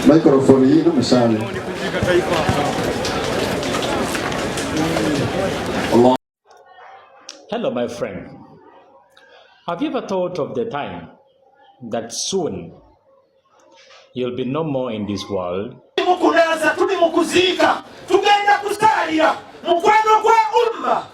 Microphone yino musale. Hello my friend. Have you ever thought of the time that soon you'll be no more in this world? Mukunaza tuli mukuziika tugenda kusaalira mukwano gwa umma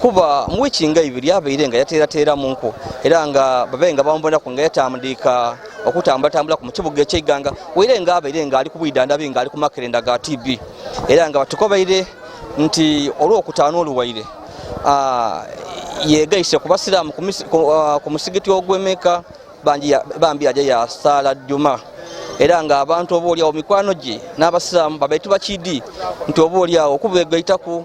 kuba mu wiiki nga ibiri abeire nga yateerateera mu nku era nga babe nga bamubonaku nga yatamdiika okutambulatambula ku mukibuga ekyeiganga waire nga abeire nga ali ku bwidandabi nga ali ku makerenda ga tb era nga batukobeire nti olwokutaano oluwaire yegaise ku basiraamu ku musigiti ogwemeka bambi yaja yasaala juma era nga abantu oba olyawo mikwano gye n'abasiraamu babetu bakidi nti oba olyawo okubegaitaku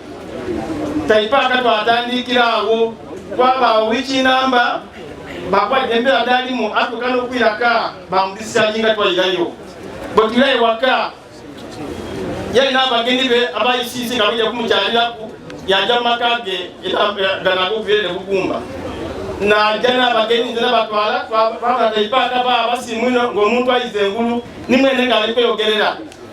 taipaaka twatandikira awo twabaawo wiiki namba bakuba embeera dalimu atuuka n'okwiraka bamudisisanyi nga twayirayo bwe tula ewaka yalina abagenyi be abayisiisi nga bajja kumukyaliraku yajja mu maka ge ganaga okubeere ne bugumba naja n'abagenyi nze nabatwala twabala taipaaka ba abasimwino ng'omuntu ayize engulu nimwene ng'ali kweyogerera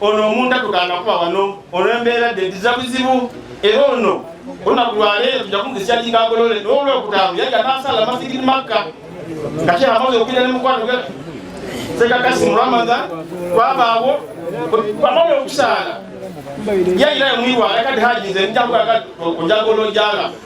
ono omuntu atugana kuba wano olw'embeera dde ntiza buzibu era ono olunaku lwaleero tujja kumukisa kinga agolole n'olwokutaano yali anaasala masigiri makka nga kye amaze okubira ne mukwano gwe sekakasi mu ramadan kwabaawo amaze okusaala yayira emwiwa yakati haji nze njakuaojagolojala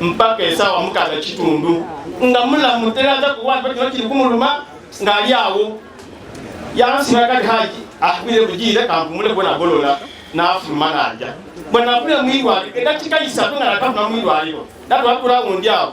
mpaka esawa mukaga kitundu nga mulamu teraza kuwanja kino kiri kumuluma ng'ali awo yansiba kati haji akubire ah, bugire kampumule bona golola n'afuluma n'aja bwe nafuna mwirwaliro edakika isatu nga natafuna mwirwaliro natwakula wundi awo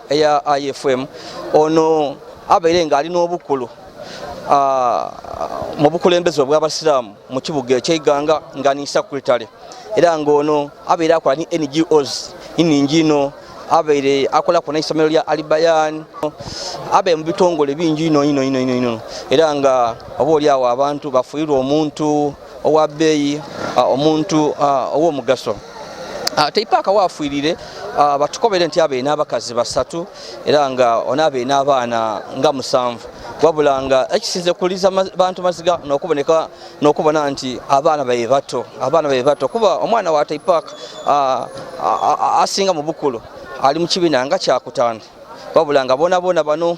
eya ifm ono abeere ng'ali n'obukkulu mu bukulembeze obw'abasiraamu mu kibuga ekyeiganga nga ni sakuritale era ng'ono abeere akola ni ngos iningi ino abeere akolako n'essomero lya alibayan abeere mu bitongole bingi ino ino ino ino era nga oba oli awo abantu bafuirwa omuntu owa bbeeyi omuntu ow'omugaso teipaaka waafuirire batukobere nti abeina abakazi basatu era nga ona abeina abaana nga musanvu wabula nga ekisinze kuliza bantu maziga nokuboneka nokubona nti abaana baye bato abaana baye bato kuba omwana wa teipaaka asinga mu bukulu ali mu kibiina nga kyakutaano wabula nga bonaboona bano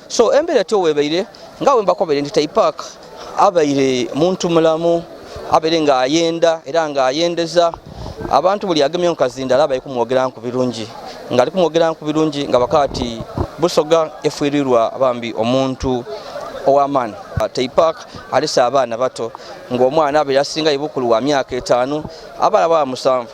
so embera to webeire nga wemba ko bere ntitai park abaire muntu mulamu abere nga ayenda era nga ayendeza abantu buli agemye nkazinda alaba ikumwogera nku birungi nga alikumwogera nku birungi nga bakati busoga efuirirwa bambi omuntu owamani taipak alisa abaana bato ngaomwana abere asinga ibukulu wa myaka etaano abala ba musanvu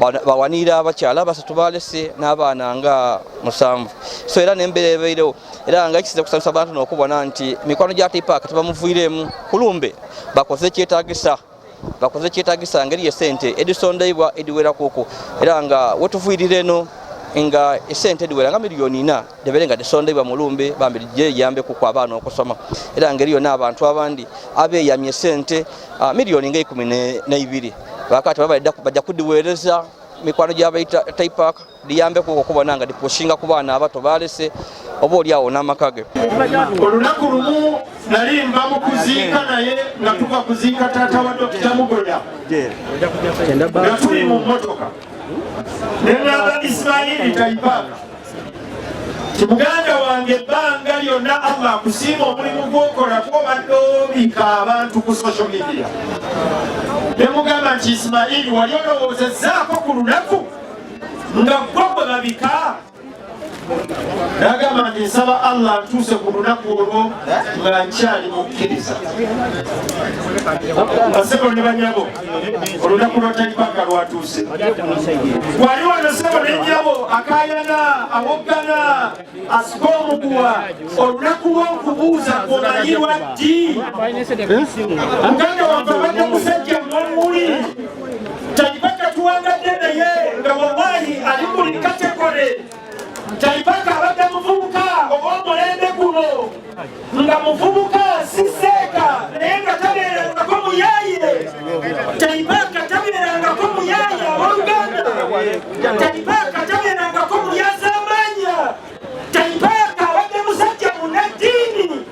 bawanirira abakyala basatu balese n'abaana nga musanvu so era nembeera ebairewo era nga ekisinza kusanyusa abantu nokubona nti mikwano gya tipaaka tebamuvuiremu kulumbe bakoze ekyetagisa bakoze ekyetagisa ngeri yesente edisondeibwa ediwerakuku era nga wetuvuirira eno nga esente ediwera nga miliyoni ina debere nga tesondebwa mulumbe bambi lijje yambe ku kwa abaana okusoma era ngeri yona abantu abandi abeyamye sente uh, ah, milioni nga ikumi neibiri bakati bajja kudiweereza mikwano gyabaita taipak diyambe ku okubona nga dipushinga ku baana abato balese oba oli awo n'amaka ge olunaku lumu nali mba mu kuziika naye nga tuva kuziika taata wa dokita mugoya nga tuli mu mmotoka ne nagala isimayiri taipak muganda wange ebbanga lyonna allah akusiima omulimu gwokola twobadde obika abantu ku social media nemugamba nti isimaili wali olowoozezaako ku lunaku nga gwo gwe babika nagamba nti nsaba allah ntuuse ku lunaku olwo nga nkyali mukkiriza basebo ne banyabo olunaku lwa taibanga lwatuuse wali wano sebo nenyabo akayana awoggana asika omuguwa olunaku lwokubuuza kumanyirwa ddi muganda wange obadde musajja mwamuli taibanga tuwangadde naye nga wawayi ali buli kategore Kyaipaka abadde muvubuka ow'omulembe guno nga muvubuka si seeka naye nga tabeerangako muyaayire Kyaipaka tabeerangako muyaaya abooluganda Kyaipaka tabeerangako mulyazaamaanya Kyaipaka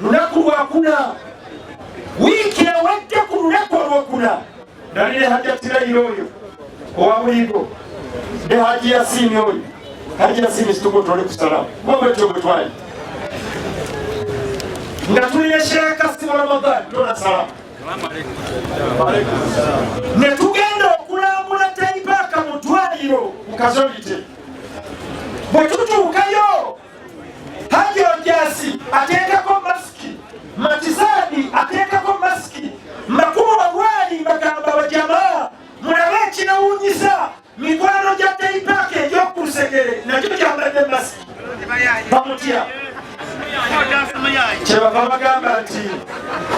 lunaku lwakuna wiiki ewedde ku lunaku olwokuna nali ne hajjatirayiro oyo owa buligo ne haji yasiini oyo haji yasiini situgotole kusalamu kuba bwetyo bwe twali nga tuli ne sheekasi mu ramadani tonasalamu ne tugenda okulambula taipaaka mu twaliro mu kazolite bwe tutuukayo Haji Ojasi ateekako masiki, Matizadi ateekako masiki, Makubo Bagwali bagamba bajamaa mulabe ekinawunyisa mikwano gya teipaaka egyokulusegere nakyo kyambadde masiki bamutya kyebava bagamba nti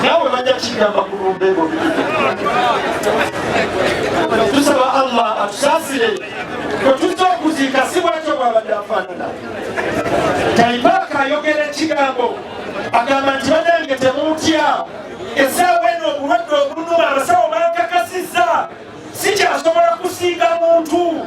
nawe bajja kigamba kulumbego tusaba allah atusasire kwetuzza okuziika si bwatyo bwabadde afaanana taibaaka ayogera ekigambo agamba nti banange temutya esaawa eno obulwadde obunuma abasawo bakakasizza sikyasobola kusiiga muntu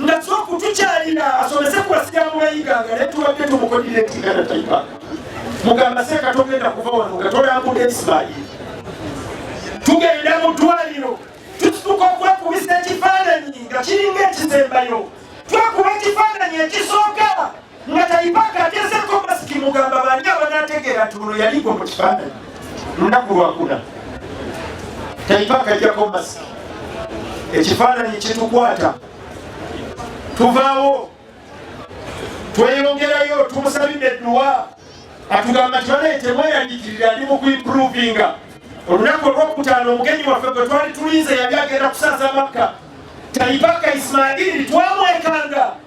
nga soku tukyalina asomese ku basiraamu bayiganga naye tubadde tumukodire entingana taipanga mugamba seeka togenda kuva wano nga tolambuda ismaili tugenda mu ddwaliro tututuka okwekubisa ekifaananyi nga kiringa ekisembayo twakuba ekifaananyi ekisooka nga taipaka agezeko masiki mugamba bani abanategeera nti muno yaliko mu kifaananyi lunaku lwakuna taipaka ajjako masiki ekifaananyi kitukwata tuvaawo tweyongerayo tumusabidde edduwa atugamba nti banaye temweyandikirira ali mu kuimprovinga olunaku olwokutaano omugenyi waffe gwe twali tulinze yali agenda kusaza makka taibaka isimaili twamwekanga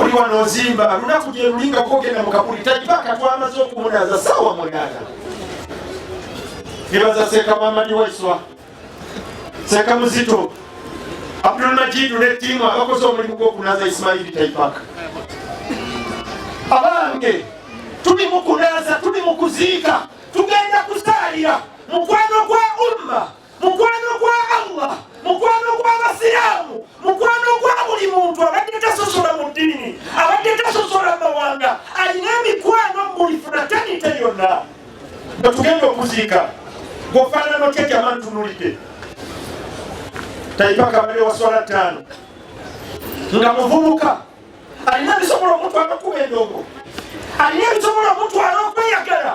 oli wano ozimba lunaku gyelulinga kogenda mukabuli tajibaka twamaze okumunaza sawa munana nebaza seka wamani waiswa seka muzito abdul majidu ne tiimu abakoze omulimu gwokunaza isimaili taipaka abange tuli mukunaza tuli mukuziika tugenda kusaalira mukwano gwa umma mukwano gwa Allah mukwano gw'abasiraamu mukwano gwa buli muntu abadde tasosola mu ddiini abadde tasosola mawanga alina emikwano mubuli funatanite yonna nga tugenda okuziika gwofaanana otya jama ntunulidde taipaka bali waswala ttaano nga muvubuka alina bisobola omutwala okuba endongo alina bisobola omutwala okweyagala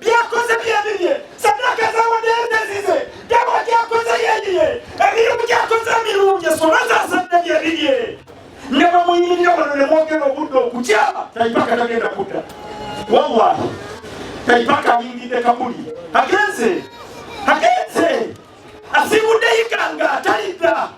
byakoze byebibye sadaka zawadde ezize dawa gyakoze yeyiye emirimu gyakoze emirungi esoma zazadde byebibye ne bamuyingira wano ne mwogera obudde okukyama taipaka tagenda kudda wallahi taipaka ayingidde kabuli agenze agenze asiibudde yiganga talidda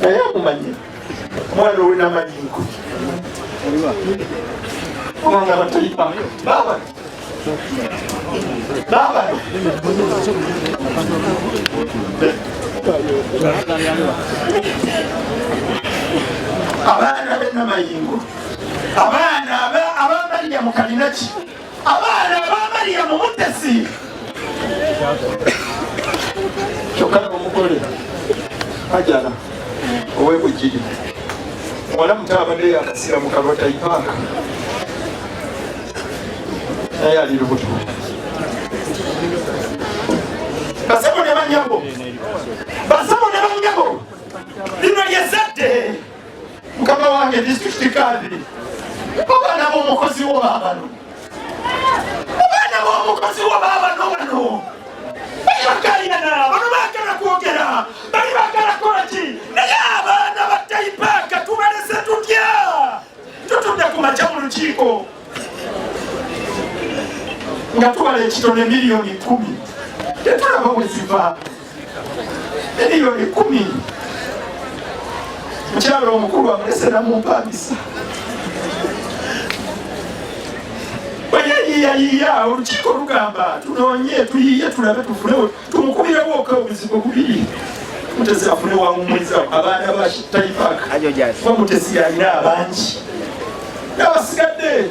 naye amumanyi omwana owe namayingo kubanga batalipa baba baba abaana benamayingo abaana abamalya mukalinaki abaana ba mariyamu mutesi kyokka nomugole ajala owebujiri muwala muto abadde yakasira mu kalwatayi paaka naye ali lubuto basebo ne banyabo basebo ne banyabo lino lyezadde mukama wange disitulikiti kadiri abaana b'omukozi wo baabano abaana b'omukozi wo baabano bano bali bakaliyana bano baagala kwogera bali baagala kukola ki naye abaana ba taipaaka tubalese tutya tutudde ku makya mu lukiiko nga tubala ekitono emiliyoni kumi tetulaba bwe zivaamu miliyoni kumi mukyalo omukulu amulesera mumpangisa bweyayiyayiya olukiiko lugamba tunonye tuyiye tulabe tufune tumukubirewo oka obuzibu bubiri mutesi afune wamumwiza abaana ba taipak bamutesi yalina abangi nabasigadde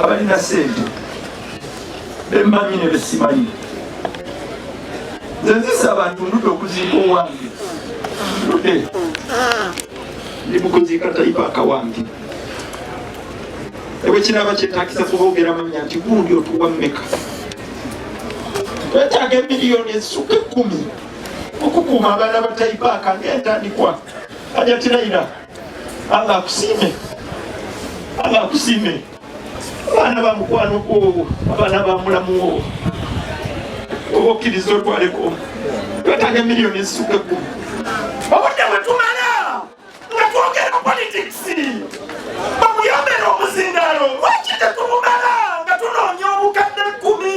abalina sente bemmanyi ne besimanyi nze nzisa abantu ndude okuziika owange ndude ndi mukuziika tayipaaka wange ebwe kinaaba kyetakisa kuba ogera manya nti gundi otuwa mmeka twetaaga emiliyoni ezisuka ekkumi okukuuma abaana batayipaaka ngaentandikwa ajatirayira Allah akusiime, Allah akusiime. Abaana ba mukwano gwowo, abaana ba mulamu wo oba okkiriza otwaleko twetaaga miliyoni ezisukka ekkumi obudde bwe tumala nga twogera politics bamuyombera omuzindaalo lwaki tetubumala nga tunoonya obukadde ekkumi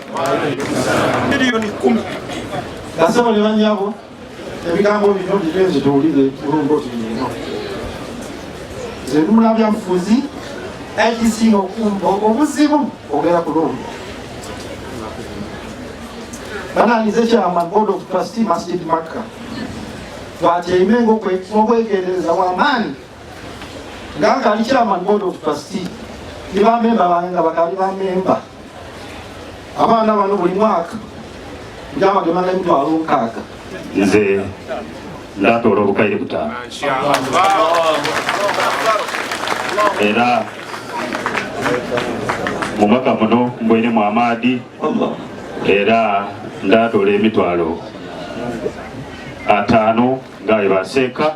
miliyoni kumi kasebo ne banyabo ebigambo bino bigenze tuwulire kulombooti eno zenula byabufuzi ekisinga obuzibu ogera kulombo bananize kyama god of trustee masjid makka twatyeime ngaokwegendereza wamaanyi nga nkali chairman board of trustee ne bamemba bange nga bakali bamemba abaana bano buli mwaka njamagemanga emitwalo nkaaga nze ndatoola obukaire butaano era mu mwaka muno mbweremu amaadi era ndatoola emitwalo ataano nga webaseeka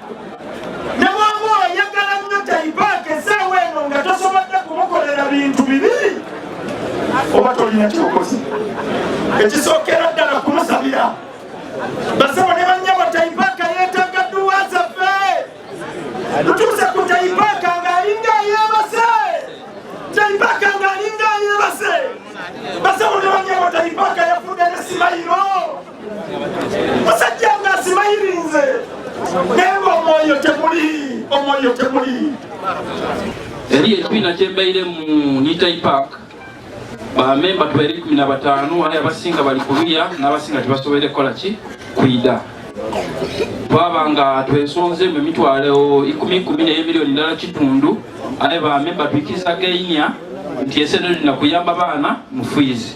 ne bwaba oyagala nnyo taipaaka esaawa eno nga tosobodde kumukolera bintu bibiri oba tolina kyokozi ekisookera ddala kumusabira basebo ne banyabo taipaaka yeetaaga dduwa zaffe tutuuse ku taipaaka ng'alinga yeebase taipaaka ng'alinga yeebase basebo ne banyabo taipaaka yafudde ne simayiro musajja nga asimayirinze naye nga omwoyo temuli omwoyo temuli eri ekibiina kyembeire mu nitai park bamemba tubaire kumi na bataano aye abasinga bali kululya n'abasinga tebasobole kukola ki kwida twaba nga twesonze mu emitwalo ikumi ikumi naye miliyoni ndala kitundu aye bamemba tuikiriza gainia nti eseno lina kuyamba baana mufiizi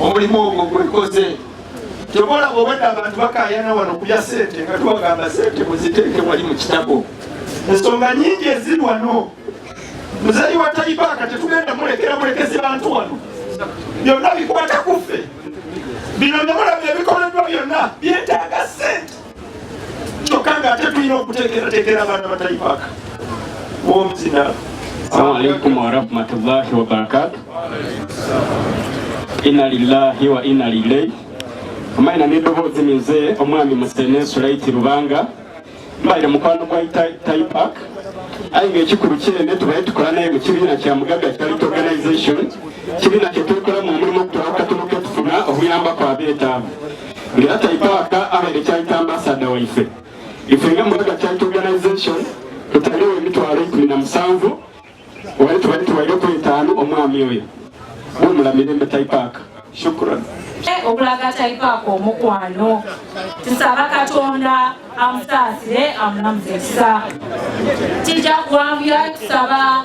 omulimu ogwo gwekoze tebolaba obwedda abantu bakayana wano kulya sente nga tubagamba sente muziteeke wali mu kitabo ensonga nyingi eziri wano muzeeyi wa taibaaka tetugenda mulekera mulekezi bantu wano byonna bikwata kuffe bino nemulabye ebikoleddwa byonna byetaaga sente kyokka nga ate tulina okuteekerateekera abaana batayipaka womuzina Assalamu alaikum warahmatullahi wabarakatu ina lillahi wa ina ilaihi amaina n'eddoboozi mize omwami musene sulaiti lubanga mbaire mukwano gwa taipak aye ngaekikulu kyene tubaye tukola naye mu kibiina kya mugaga charity organization kibiina kyetwekola mu mulimu okutwala okukatuluka okufuna okuyambako abeetaavu ngera taitawaka abere kyaita ambasada waife ife nga muyaga kyaita organization tutaliwo emitwalo ikumi na musanvu wali tubali tuwaire ku etaano omwami oyo wumula mirembe taipaka shukran okulaga taipaka omukwano tusaba katonda amusaasire amulamuze kisa kijja kuwanvuya tusaba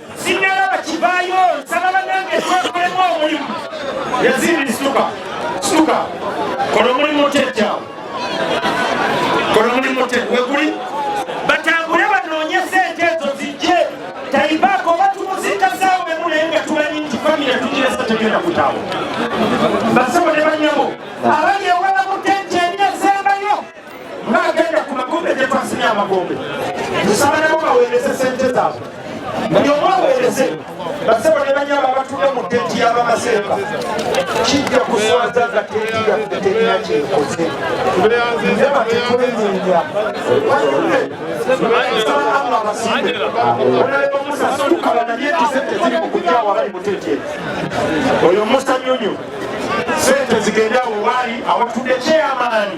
sinnalaba kivaayo nsaba banange twakolemu omulimu yazimbi situka situka kola omulimu otejawo kola omulimu ote weguli batambule banoonye sente ezo zijje taibaako oba tumuziika saawa emu naye nga tumanyi nti famire tugiresa tegenda kutawo basebo ne banyabo abali ng'agenda ku magombe gye twasimye amagombe nsaba nabo baweereze sente zaabwe buli omu aweereze basebo ne banyaba batudde mu tenti y'abamaseeka kijja kuswaza nga tenti yaffe terina kyekoze nze batekolenyenya wayonde nsaba allah abasimbe onaleba musa situkala naye nti sente ziri mu kujjawo abali mu tenti eyo oyo musa nyonyo sente zigende awo waali awatudde kyeyamaani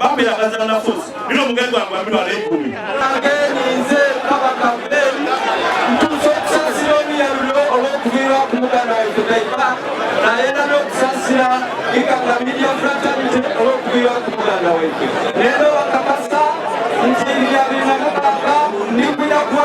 bambira kazana fuzi bino mugenzi wange wambira ala ekumi ageninze kabaka mberi ntuusa okusasira omuyalulo olw'okuviira ku muganda waife taifa naye era n'okusasira ikanga media fraternity olw'okuviira ku muganda waife leero bakakasa nti bya biri na mukaaga ndi kuja kuba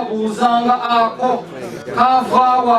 babuuzanga ako kavaawa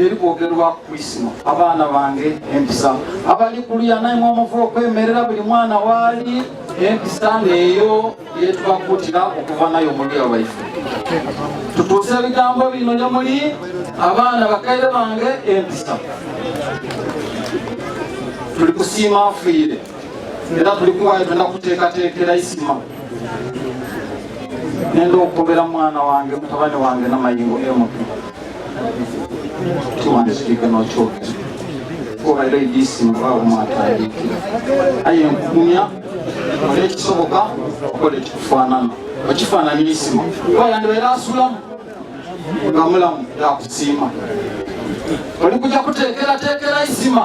eri kwogerwa ku isima abaana bange empisa abali kulya naimwe omuva okwemerera buli mwana waali empisa neeyo yetubakuutira okuva nayo omulya waife tutuuse ebigambo bino ne muli abaana bakaire bange empisa tuli kusiima afiire era tuli kuwayo tolina kuteekateekera isima nenda okukobera mwana wange mutabani wange namayingo mp tiwandikiga nokyogera kuba era edisimu baba mwatandikira aye nkugumya oli ekisoboka okola ekikufaanana okifaananya isima kuba yandibaera asulamu nga mulamu yakusiima oli kuja kuteekerateekera isima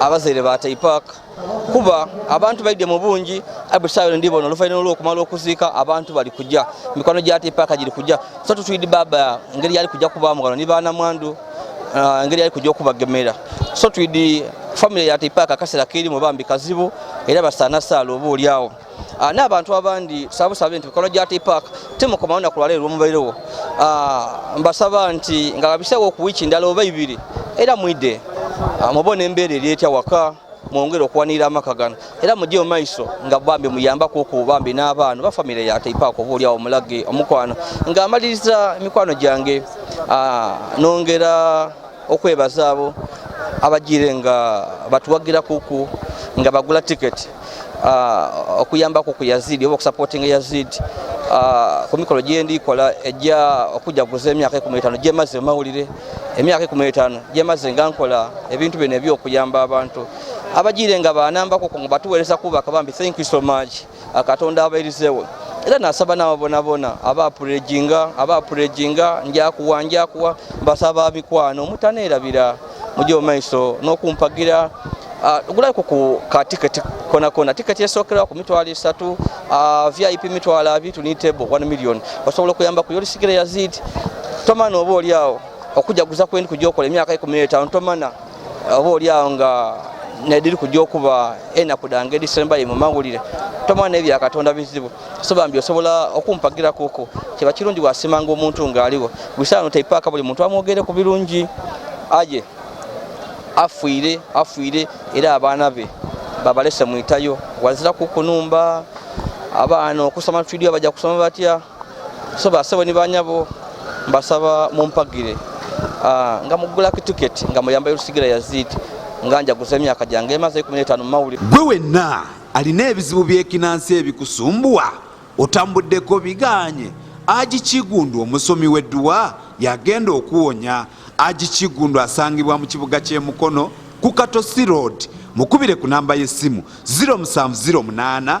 abazaire ba taipak kuba abantu baidde mu bungi abusayo ndi bono lufaina olwo kumala okuzika abantu bali kujja mikono gya taipak giri kujja so tutuidi baba ngeri yali kujja kuba mugano ni bana mwandu uh, ngeri yali kujja okubagemera so tuidi family ya taipak kasera kiri mu bambi kazibu era basana sala obu ulyawo Ah, n'abantu abandi sabusabe nti bikolwa gya tipak temukomawo naku lwala erwomuberewo ah, mbasaba nti nga babisewo ku wiiki ndala oba ibiri era mwidde ah, mubona embeera eri etya waka mwongere okuwanirira amaka gano era mujje mu maiso nga bambi muyambako oku bambi n'abaana oba famire ya tipak oba olyawo omulage omukwano ng'amaliriza emikwano gyange nongera okwebaza abo abajire nga batuwagira kuku nga bagula ticket uh, okuyambako ku Yazid oba okusupporting Yazid uh, ku mikolo gyendi kola ejja okujaguza emyaka ekumi etaano gyemaze mawulire emyaka ekumi etaano gyemaze nga nkola ebintu bino ebyokuyamba abantu abajire nga banambako ku batuweereza kubaka bambi thank you so much akatonda abairizewo era nasaba nababonabona aba purejinga aba purejinga njakuwa njakuwa mbasaba mikwano mutanerabira mujo maiso nokumpagira Uh, gulaiko ku ka ticket kona kona ticket yesokera ku mitwalo esatu uh, vip mitwalo abiri tuni table 1 million osobola okuyamba ku yolisigire yazid tomana oba oli awo okujaguza kwendi kujokola emyaka ikumi n'etaano tomana oba oli awo nga nediri kujja okuba enaku dange edisembaye mu mawulire tomala naye bya katonda bizibu so bambi osobola okumpagira kuku kiba kirungi wasimanga omuntu ng'aliwo busaano teipaaka buli muntu amwogere ku birungi aye afuire afuire era abaana be babalese mwitayo wazira kukunumba abaana okusoma tudio bajja kusoma batya so basebo ni banyabo mbasaba mumpagire ah, nga mugula kituketi nga muyamba erusigira yazid nga njaguza emyaka gyange emaze ekumi n'etaano mumawuli gwe wenna alina ebizibu byekinansi ebikusumbuwa otambuddeko biganye aji kigundu omusomi w'edduwa yagenda okuwonya aji kigundu asangibwa mu kibuga ky'emukono ku katosi road mukubire ku namba y'essimu 0708